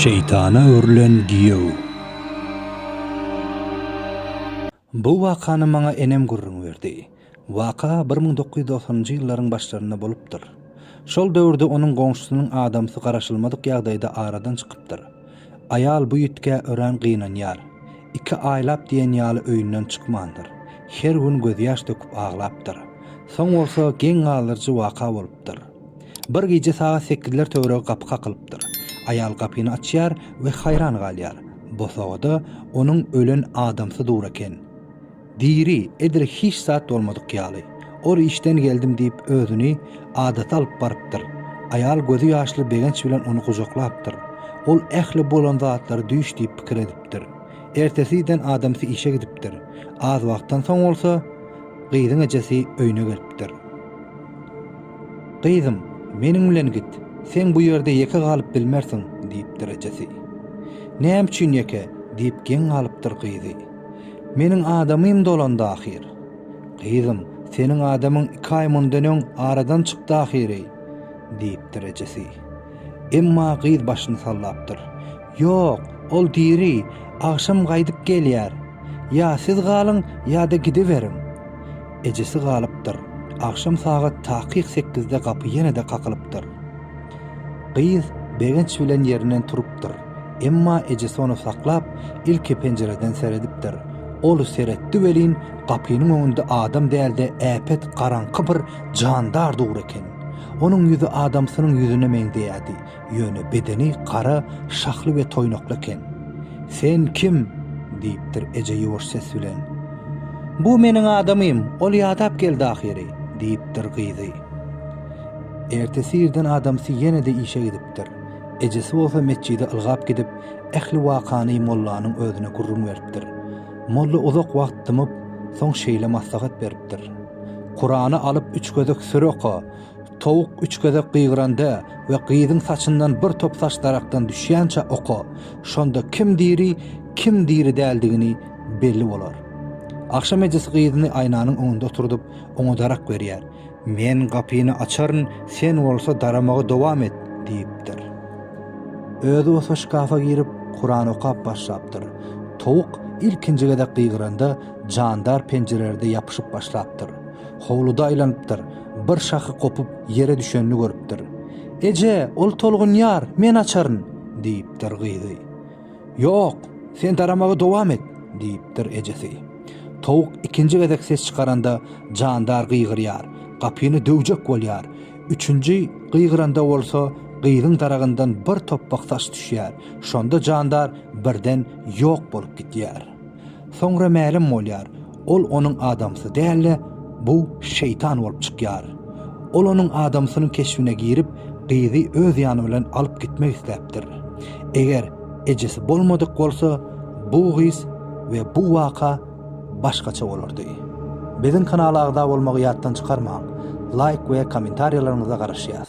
Şeýtana öwrülen giýew. Bu wakany maňa enem gürrüň berdi. Waka bir müň dokuz ýüz dogsanyňjy ýyllaryň başlarynda bolupdyr. Şol döwürde onuň goňşusynyň adamsy garaşylmadyk ýagdaýda aradan çykypdyr. Aýal bu ýitgä örän gynanýar. Iki aýlap diýen ýaly öýünden çykmandyr. Her gün gözýaş döküp aglapdyr. Soň bolsa geň galdyryjy waka bolupdyr. Bir gije sagat sekizler töweregi gapy kakylypdyr. Aýal gapyny açýar we haýran galýar. Bosagada onuň ölen adamsy dur eken. Diri, edil hiç zat bolmadyk ýaly. Ol işden geldim diýip özüni adata alyp barypdyr. Aýal gözi ýaşly begenç bilen ony gujaklapdyr. Ol ähli bolan zatlary düýş diýip pikir edipdir. Ertesi den adamsy işe gidipdir. Az wagtdan soň bolsa gyzyň ejesi öýüne gelipdir. Gyzym, meniň bilen git, sen bu ýerde ýeke galyp bilmersiň, diýipdir ejesi. Näme üçin ýeke? diýip geň galypdyr gyzy. Meniň adamym dolandy ahyr. Gyzym, seniň adamyň iki aý mundan öň aradan çykdy ahyry, diýipdir ejesi. Emma gyz başyny sallapdyr. Ýok, ol diri, agşam gaýdyp gelýär. Ýa siz galyň, ýa-da gidiberiň. Ejesi galypdyr. Agşam sagat takyk sekizde gapy ýene-de kakylypdyr. Gyz begenç bilen ýerinden turupdyr. Emma ejesi ony saklap, ilki penjireden seredipdir. Ol seretdi welin, gapynyň öňünde adam däl-de äpet garaňky bir jandar dur eken. Onuň ýüzi adamsynyň ýüzüne meňzeýärdi. ýöne bedeni gara şahly we toýnakly eken. Sen kim? diýipdir eje ýuwaş ses bilen. Bu meniň adamym, ol ýadap geldi ahyry, diýipdir gyzy. Ertesi irden adamsy ýene-de işe gidipdir. Ejesi bolsa metjide ylgap gidip, ähli wakany mollanyň özüne gürrüň beripdir. Molla uzak wagt dymyp, soň şeýle maslahat beripdir. Kurany alyp üç gezek süre oka. Towuk üç gezek gygyranda we gyzyň saçyndan bir top saç darakdan düşýänçä oka, şonda kim diri, kim diri däldigini belli bolar. Agşam ejesi gyzyny aýnanyň öňünde oturdyp, oňa darak berýär. Men gapyny açaryn, sen bolsa daramagy dowam et, diýipdir. Özi bolsa şkafa girip, Kuran okap başlapdyr. Towuk ilkinji gezek gygyranda, jandar penjirelerde ýapyşyp başlapdyr. Howluda aýlanypdyr. bir şahy gopup, ýere düşenini görüpdir. Eje, ol tolgunýar, men açaryn! diýipdir gyzy. Ýok, sen daramagy dowam et! diýipdir ejesi. Towuk ikinji gezek ses çykaranda, jandar gygyrýar, gapyny döwjek bolýar. Üçünji gygyranda bolsa, gyzyň daragyndan bir topbak saç düşýär. Şonda jandar birden ýok bolup gidýär. Soňra mälim bolýar, ol onuň adamsy däl-de, bu şeýtan bolup çykýar. Ol onuň adamsynyň keşbine girip, gyzy öz ýany bilen alyp gitmek isläpdir. Eger ejesi bolmadyk bolsa, bu gyz we bu waka başgaça bolardy. Biziň kanala agza bolmagy ýatdan çykarmaň. Laýk we kommentariýalaryňyza garaşýas.